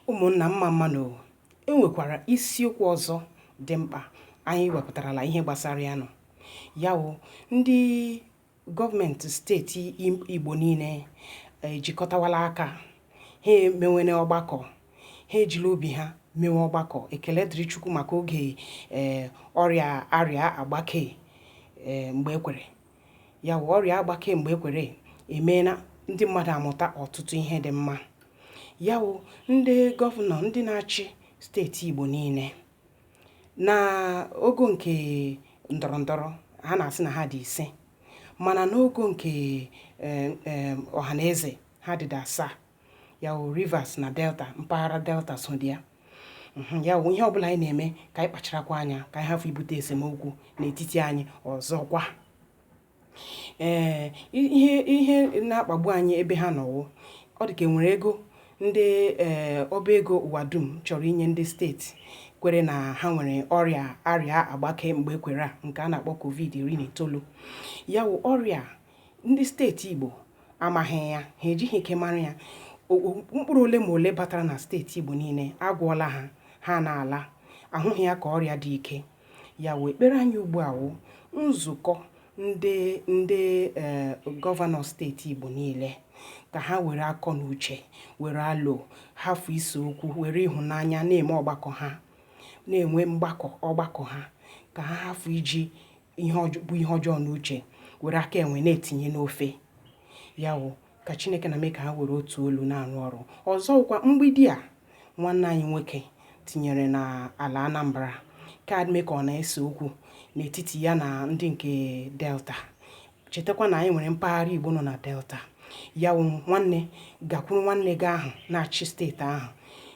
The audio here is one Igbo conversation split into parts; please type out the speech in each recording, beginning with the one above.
ụmụnna mma mma nụ o e nwekwara isiokwu ọzọ dị mkpa anyị wepụtarala ihe gbasara ya nọ ya wụ ndị gọọmenti steeti igbo niile ejikọtawala aka ha emewene ọgbakọ ha ejila obi ha mewe ọgbakọ ekele dịrị chukwu maka oge ee ọrịa arịa agbakee mgbe ekwere ya wụ ọrịa agbake mgbe ekwere emeela ndị mmadụ amụta ọtụtụ ihe dị mma ya wụ ndị gọvanọ ndị na-achị steeti Igbo niile na ogo nke ndọrọ ndọrọ ha na-asị na ha dị ise mana n'ogo nke eh, eh, ọha na eze ha dị asaa ya wụ Rivers na Delta mpaghara Delta so dị ya mhm, ya wụ ihe ọbụla anyị na-eme ka anyị kpacharakwa anya ka anyị hafụ ibute esemokwu n'etiti anyị ọzọkwa ee ihe ihe na-akpagbu anyị ebe ha nọ wụ ọ dị ka enwere ego ndị ee ọba ego ụwa dum chọrọ inye ndị steeti kwere na ha nwere ọrịa arịa agbake mgbe ekwere a nke a na-akpọ covid iri na itoolu ya wụ ọrịa ndị steeti Igbo amaghị ya ha ejighị ike mara ya mkpụrụ ole ma ole batara na steeti Igbo niile agwọọla ha ha na-ala ahụghị ya ka ọrịa dị ike ya wụ ekpere anyị ugbu a wụ nzukọ ndị ndị eh, gọvanọ steeti Igbo niile ka ha were akọ na uche were alo hafụ ise okwu were ịhụnanya na-eme ọgbakọ ha na-enwe mgbakọ ọgbakọ ha ka ha hafụ iji ihe ọjọ- bụ ihe ọjọọ n'uche were aka enwe na-etinye n'ofe ya wụ ka chineke nna mee ka ha were otu olu na-arụ ọrụ ọzọkwa mgbidi a nwanne anyị nwoke tinyere na ala anambra ka mee ka ọ na-ese okwu n'etiti ya na ndị nke delta chetakwa na anyị nwere mpaghara igbo nọ na delta ya wụ nwanne gakwuru nwanne gị ahụ na-achị steeti ahụ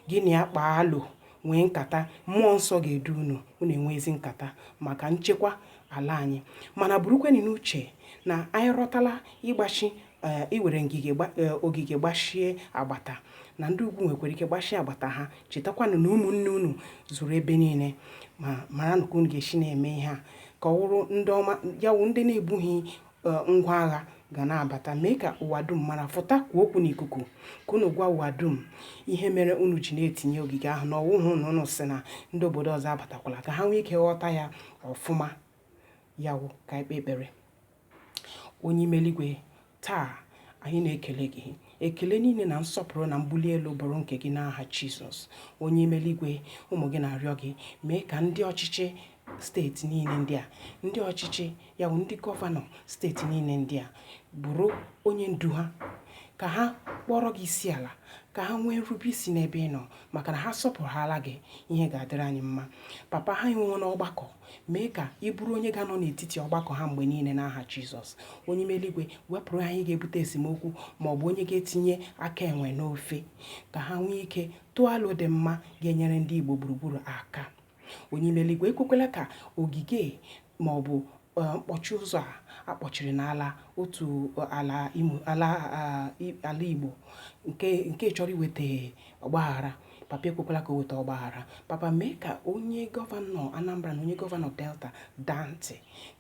gị na ya kpaa alo nwee nkata mmụọ nsọ ga-edu unu unu enwe ezi nkata maka nchekwa ala anyị mana burukwenụ n'uche na anyị rọtala ịgbachi eh, iwere ngige eh, ogige gbachie agbata na ndị ugwu nwekwara ike gbachie agbata ha chetakwanụ na ụmụnne unu zuru ebe niile ma maranụ ka unu ga-esi na-eme ihe a ka ọ wụrụ ndị ọma ya wụ ndị na-ebughị e, ngwa agha ga na-abata mee ka ụwa dum mara fụta kwuo okwu n'ikuku ka unu gwa ụwa dum ihe mere unu ji na-etinye ogige ahụ na ọ wụhụ na unu sị na ndị obodo ọzọ abatakwala ka ha nwee ike ghọta ya ọfụma ya wụ ka anyị kpee ekpere onye ime eligwe taa anyị na-ekele gị ekele niile na nsọpụrụ na mbuli elu bụrụ nke gị n'aha Jizọs onye ime eluigwe ụmụ gị na-arịọ gị mee ka ndị ọchịchị steeti niile ndị a ndị ọchịchị ya bụ ndị gọvanọ steeti niile ndị a bụrụ onye ndu ha ka ha kpọrọ gị isi ala ka ha nwee nrube isi n'ebe ị nọ maka na ha sọpụrụhala gị ihe ga-adịrị anyị mma papa ha enwewo n'ọgbakọ mee ka ị bụrụ onye ga-anọ n'etiti ọgbakọ ha mgbe niile n'aha Jizọs onye ime eluigwe wepụrụ ha onye ga-ebute esemokwu ma ọ bụ onye ga-etinye aka enwe n'ofe ka ha nwee ike tụọ alo dị mma ga-enyere ndị Igbo gburugburu aka onye ime eluigwe ekwekwala ka ogige ma ọ bụ e, mkpọchi ụzọ a a kpọchiri n'ala otu ala Igbo nke chọrọ iweta ọgbaghara Papa ekwekwala ka o weta ọgbaghara. Papa mee ka onye gọvanọ Anambra na onye gọvanọ Delta daa ntị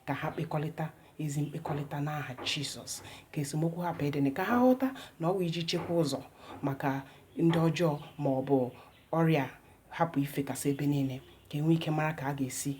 ka ha kpekọrịta ezi mkpekọrịta n'aha Jizọs ka esemokwu hapụ ịdịnị ka ha ghọta na ọ bụ iji chekwa ụzọ maka ndị ọjọọ ma ọ bụ ọrịa hapụ ifekasị ebe niile ka e nwee ike mara ka a ga-esi